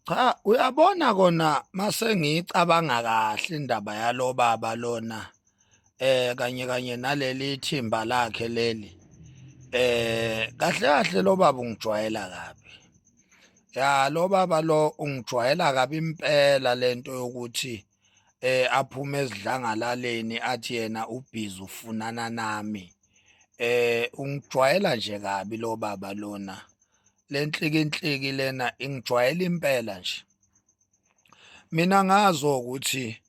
cha uyabona kona mase ngicabanga kahle indaba yalo baba lona eh kanye kanye naleli thimba lakhe leli eh kahle kahle lo baba ungijwayela kabi ya lo baba lo ungijwayela kabi impela lento yokuthi eh aphume ezidlangalaleni athi yena ubhizi ufunana nami eh ungijwayela nje kabi lo baba lona lenhliki inhliki lena ingijwayela impela nje mina ngazo ukuthi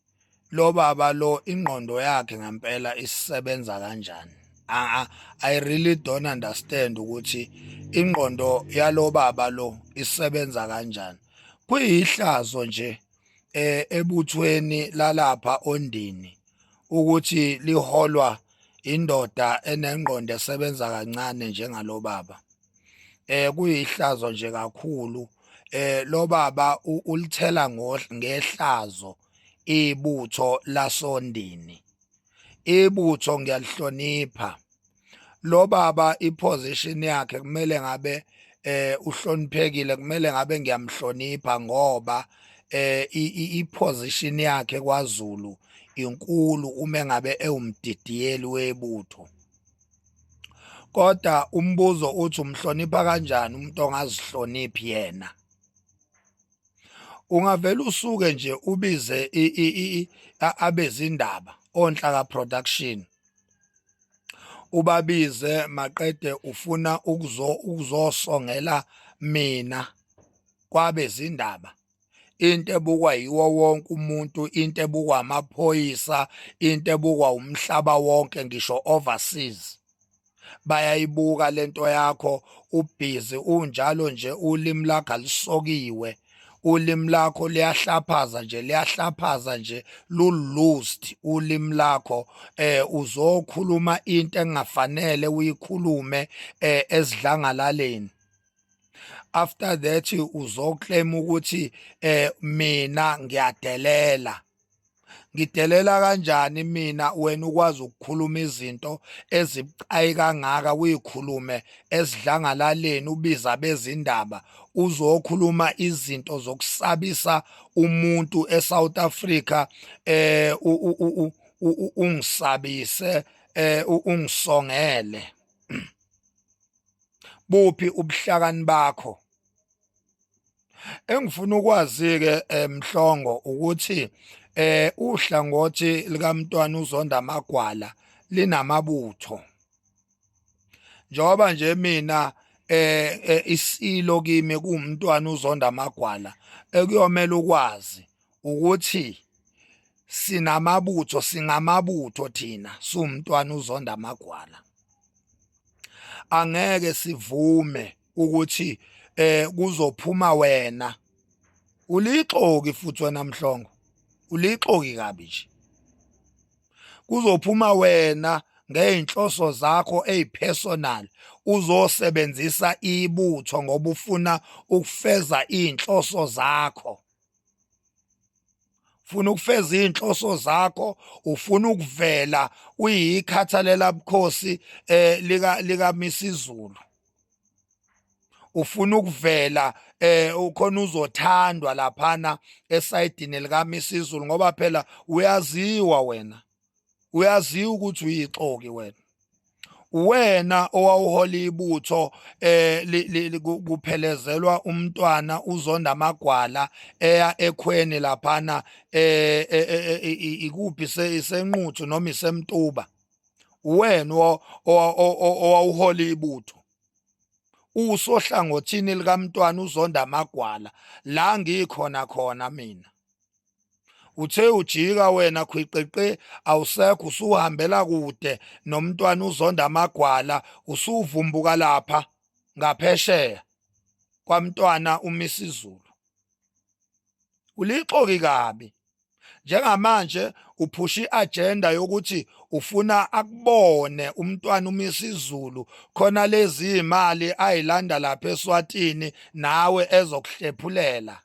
lo baba lo ingqondo yakhe ngempela isisebenza kanjani I, I really don't understand ukuthi ingqondo yalo baba lo isebenza kanjani kuyihlazo nje eh, ebuthweni lalapha ondini ukuthi liholwa indoda enengqondo esebenza kancane njengalobaba eh kuyihlazo nje kakhulu eh lo baba ulithela ngehlazo ibutho lasondini ibutho ngiyalihlonipha lo baba iposition yakhe kumele ngabe eh uhloniphekile kumele ngabe ngiyamhlonipha ngoba eh iposition yakhe kwaZulu inkulu uma ngabe ewumdidiyeli webutho kodwa umbuzo uthi umhlonipha kanjani umuntu ongazihloniphi yena ungavela usuke nje ubize abezindaba onhlaka production ubabize maqede ufuna ukuzo ukuzosongela mina kwabezindaba into ebukwa yiwo wonke umuntu into ebukwa amaphoyisa into ebukwa umhlaba wonke ngisho overseas bayayibuka lento yakho ubhizi unjalo nje ulimi lakho alisokiwe ulimi lakho liyahlaphaza nje liyahlaphaza nje lulust ulimi lakho eh uzokhuluma into engafanele uyikhulume eh esidlangalaleni after that uzoclaim ukuthi eh mina ngiyadelela ngidelela kanjani mina wena ukwazi ukukhuluma izinto ezibucayi kangaka kuyikhulume esidlangalaleni ubiza bezindaba uzokhuluma izinto zokusabisa umuntu eSouth Africa eh ungisabise eh ungisongele buphi ubuhlakani bakho Engifuna ukwazi-ke um Mhlongo ukuthi um uhlangothi likaMntwana uZonda Magwala linamabutho njengoba nje mina eh, eh isilo kimi kuwumntwana uZonda Magwala ekuyomela ukwazi ukuthi sinamabutho singamabutho thina sumntwana uZonda Magwala angeke sivume ukuthi eh kuzophuma wena ulixoki futhi wena mhlongo ulixoki kabi nje kuzophuma wena ngeyinhloso zakho ezipersonal uzosebenzisa ibutho ngoba ufuna ukufeza izinhloso zakho ufuna ukufeza izinhloso zakho ufuna ukuvela uyikhathalela bukhosi eh lika lika Misizulu ufuna ukuvela eh ukhona uzothandwa laphana esayidini lika Misizulu ngoba phela uyaziwa wena uyaziwa ukuthi uyixoki wena wena owawuhola ibutho eh kuphelezelwa umntwana uzonda amagwala eya ekhweni laphana eh, eh, eh, eh ikuphi senquthu noma isemtuba wena owawuhola ibutho usohlangothini likamntwana uzonda amagwala la ngikhona khona mina uthe ujika wena khwiqiqi awusekho usuhambela kude nomntwana uzonda amagwala usuvumbuka lapha ngaphesheya kwamntwana umisizulu ulixoki kabi njengamanje uphusha i-agenda yokuthi ufuna akubone umntwana uma isizulu khona lezi imali ayilanda lapha eSwatini nawe ezokuhlephulela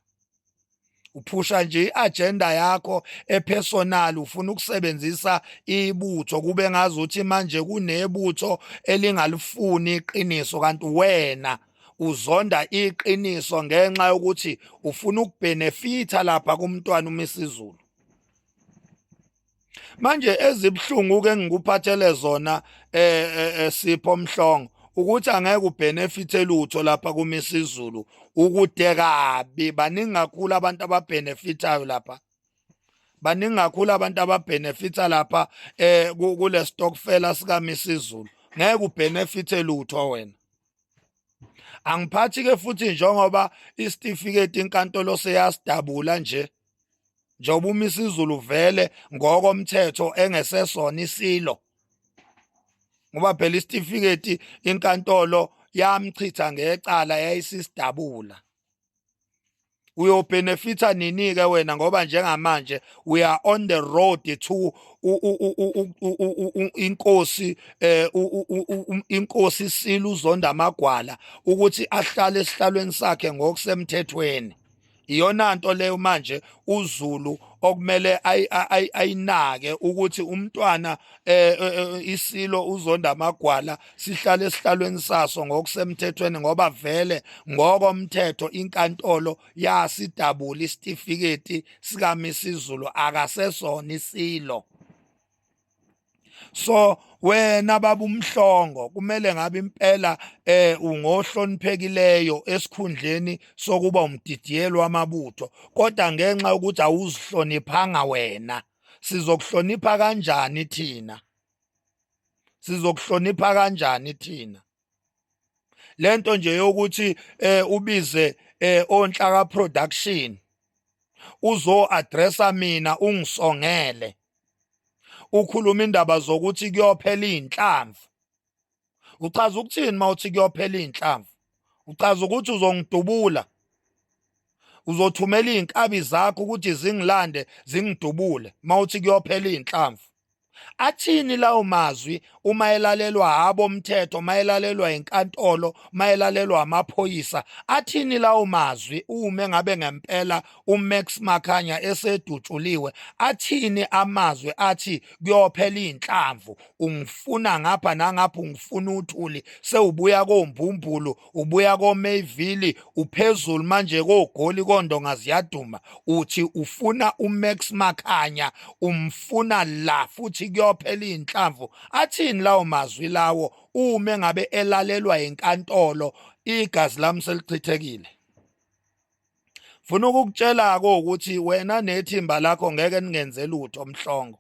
uphusha nje i-agenda yakho epersonal ufuna ukusebenzisa ibutho kube ngazuthi manje kunebutho elingalifuni iqiniso kanti wena uzonda iqiniso ngenxa yokuthi ufuna ukubhenefitha lapha kumntwana uMisizulu manje ezibuhlungu ke ngikuphathele zona eh, eh, eh sipho mhlongo ukuthi angeke ubenefit elutho lapha kuMisizulu ukude kabi baningi kakhulu abantu ababenefitayo lapha baningi kakhulu abantu ababenefita lapha eh kule stockfela sika Misizulu ngeke ubenefit elutho wena angiphathi ke futhi njengoba isitifiketi inkantolo seyasidabula nje njengoba umisa izulu vele ngokomthetho engesesona isilo ngoba phela isitifiketi inkantolo yamchitha ngecala yayisisidabula uyobenefitha nini ke wena ngoba njengamanje we are on the road to inkosi eh inkosi isila uzonda amagwala ukuthi ahlale esihlalweni sakhe ngokusemthethweni iyona nto leyo manje uZulu okumele ayinake ukuthi umntwana eh, eh, eh, isilo uzonda amagwala sihlale esihlalweni saso ngokusemthethweni ngoba vele ngokomthetho inkantolo yasidabula isitifiketi sikamisizulu akasesona isilo so wena baba umhlongo kumele ngabe impela eh ungohloniphekileyo esikhundleni sokuba umdidiyelo wamabutho kodwa ngenxa ukuthi awuzihloniphanga wena sizokuhlonipha kanjani thina sizokuhlonipha kanjani thina lento nje yokuthi eh ubize eh onhlaka production uzo addressa mina ungisongele ukhuluma indaba zokuthi kuyophela izinhlamvu uchaza ukuthini mawuthi kuyophela izinhlamvu uchaza ukuthi uzongidubula uzothumela izinkabi zakho ukuthi zingilande zingidubule mawuthi kuyophela izinhlamvu athini lawo mazwi uma elalelwa abomthetho mayelalelwa inkantolo mayelalelwa amaphoyisa athini lawo mazwi uma ngabe ngempela uMax Makhanya esedutshuliwe athini amazwi athi kuyophela inhlamvu ungifuna ngapha nangapha ungifuna uthuli sewubuya kombumbulu ubuya koMayville uphezulu manje kogoli kondonga ziyaduma uthi ufuna uMax Makhanya umfuna la futhi kuyophela inhlamvu athini lawo mazwi lawo uma ngabe elalelwa inkantolo igazi lami selichithekile funa ukukutshela ko ukuthi wena nethimba lakho ngeke ningenze lutho mhlongo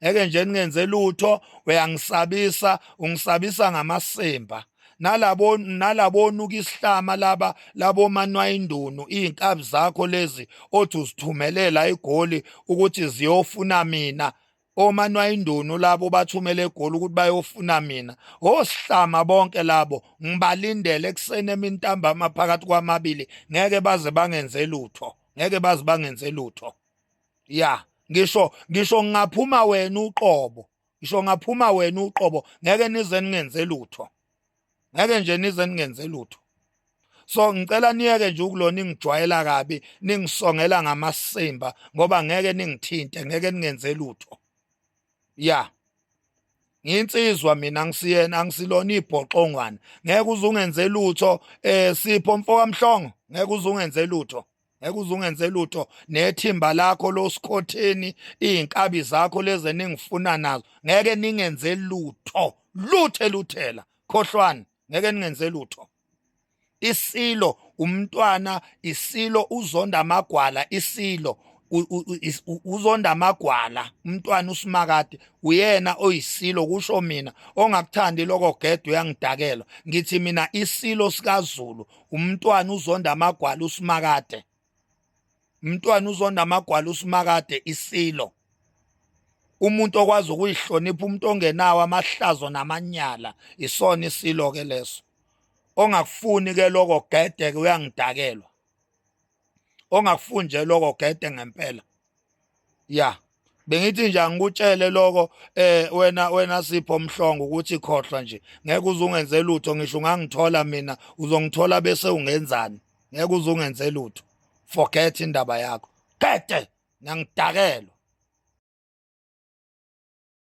ngeke nje ningenze lutho uyangisabisa ungisabisa ngamasimba nalabo nalabonuka isihlama laba labo manwayindunu izinkabi zakho lezi othi uzithumelela igoli ukuthi ziyofuna mina omanwayindunu labo bathumele egoli ukuthi bayofuna mina osihlama bonke labo ngibalindele ekuseni emintambama phakathi kwamabili ngeke baze bangenze lutho ngeke baze bangenze lutho ya ngisho ngisho ngingaphuma wena uqobo ngisho ngaphuma wena uqobo ngeke nize ningenze lutho ngeke nje nize ningenze lutho so ngicela niyeke nje ukulona ingijwayela kabi ningisongela ngamasimba ngoba ngeke ningithinte ngeke ningenze lutho ya nginsizwa mina ngisiyena angisilona ibhoxongwana ngeke uzungenze lutho eh sipho mfowamhlongo ngeke uzungenze lutho ngeke uze ungenze lutho nethimba lakho losikhotheni izinkabi zakho leze ningifuna nazo ngeke ningenze lutho luthe luthela khohlwani ngeke ningenze lutho isilo umntwana isilo uzonda amagwala isilo uzonda amagwala umntwana usimakade uyena oyisilo kusho mina ongakuthandi lokho gede uyangidakelwa ngithi mina isilo sikaZulu umntwana uzonda amagwala usimakade umntwana uzonda amagwala usimakade isilo umuntu okwazi ukuyihlonipha umuntu ongenawo amahlazo namanyala isona isilo ke leso ongakufuni ke lokho gede ke uyangidakelwa ongakufuni nje loko gede ngempela ya bengithi nje angikutshele loko eh wena wena sipho mhlongo ukuthi khohlwa nje ngeke uzungenze lutho ngisho ungangithola mina uzongithola bese ungenzani ngeke uzungenze lutho forget indaba yakho gede ngiyangidakelwa